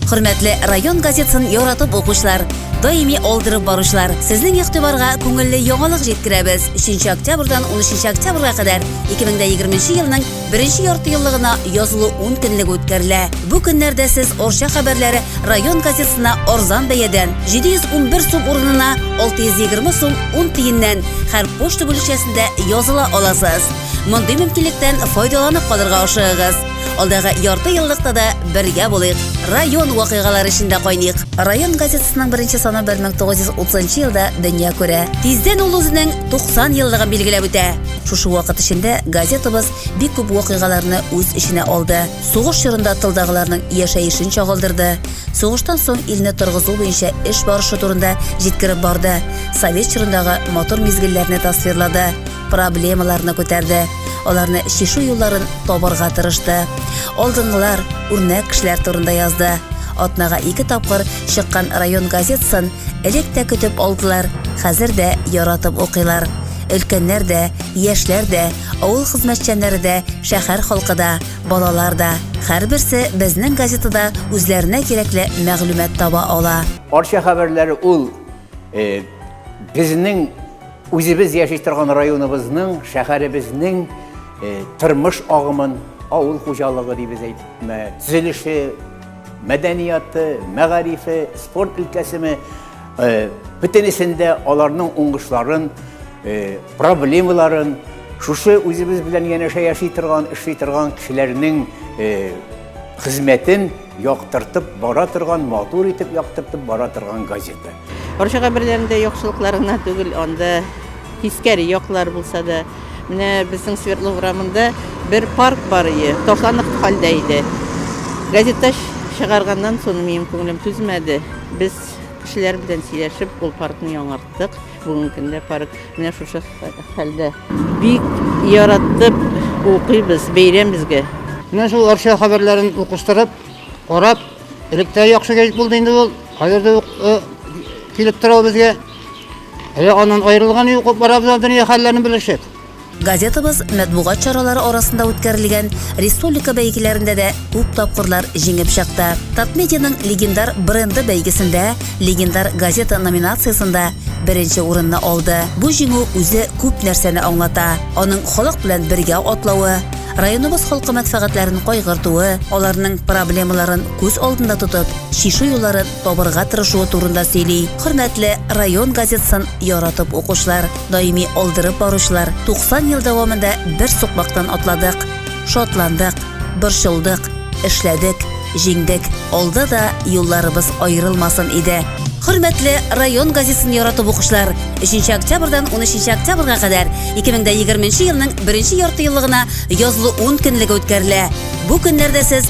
Хөрмәтле район газетасын яратып укучылар, даими алдырып баручылар, сезнең игътибарга күңелле яңалык җиткерәбез. 3 октябрьдан 13 октябрьгә кадәр 2020 елның беренче ярты еллыгына язылу 10 көнлеге үткәрелә. Бу көннәрдә сез Орча хәбәрләре район газетасына арзан бәядән 711 сум урынына 620 сум 10 тиеннән һәр почта бүлекчәсендә языла аласыз. Мондый мөмкинлектән файдаланып калырга ашыгыгыз. Алдагы ярты еллыкта да бергә булыйк. Район вакыйгалары эчендә кайныйк. Район газетасының беренче саны 1930 елда дөнья күрә. Тиздән ул үзенең 90 еллыгын билгеләп үтә. Шушы вакыт эчендә газетабыз бик күп вакыйгаларны үз эченә алды. Сугыш чорында тылдагыларның яшәешен чагылдырды. Сугыштан соң илне торгызу буенча эш барышы турында җиткереп барды. Совет чорындагы матур мизгелләрне тасвирлады. проблемаларны күтәрде, аларны чишү юлларын табарга тырышты. Алдынгылар, үрнәк кешеләр турында язды. Атнага ике тапкыр чыккан район газетасын элек тә көтеп алдылар, хәзер дә яратып укыйлар. Өлкәннәр дә, яшьләр дә, авыл хезмәтчәннәре дә, шәһәр халкы да, балалар да. Һәрберсе безнең газетада үзләренә кирәкле мәгълүмат таба ала. Арча хәбәрләре ул Э, безнең үзебез яши торган районыбызның, шәһәребезнең э, тормыш агымын, авыл хуҗалыгы дибез әйтме, төзелеше, мәдәнияты, мәгарифе, спорт өлкәсеме, э, бөтенесендә аларның уңышларын, проблемаларын шушы үзебез белән янәшә яши торган, эшли торган кешеләрнең хезмәтен Яктыртып бара торган, матур итеп яктыртып бара торган газета. Орчага берләрендә яхшылыклар гына түгел, анда тискәре яклар булса да. Менә безнең Свердлов урамында бер парк бар ие, ташланып хәлдә иде. Газета чыгарганнан соң минем күңелем түзмәде. Без кешеләр белән сөйләшеп, ул паркны яңарттык. Бүгенге көндә парк менә шушы хәлдә. Бик яраттып укыйбыз бәйрәм безгә. Менә шул Арча хәбәрләрен укыштырып, карап, электә яхшы гәҗит булды инде ул. Хәзер дә э, килеп тора безгә. Әле аннан аерылган юк, барабыз дөнья хәлләрен белешеп. Газетабыз мәтбугат чаралары арасында үткәрелгән республика бәйгеләрендә дә күп тапкырлар җиңеп чыкты. Татмедианың легендар бренды бәйгесендә легендар газета номинациясендә беренче урынны алды. Бу җиңү үзе күп нәрсәне аңлата. Аның халык белән бергә атлавы, районыбыз халкы мәнфәгатьләрен кайгыртуы, аларның проблемаларын күз алдында тотып, чишү юлларын табырга тырышуы турында сөйли. Хөрмәтле район газетасын яратып укучылар, даими алдырып баручылар, 90 ел дәвамында бер сукмактан атладык, шатландык, борчылдык, эшләдек, җиңдек. Алда да юлларыбыз аерылмасын иде. Хөрмәтле район газетасын яратып укучылар, 3 октябрьдән 13 октябрьга кадәр 2020 елның беренче яртыеллыгына язлы ун көнлеге үткәрелә. Бу көннәрдә сез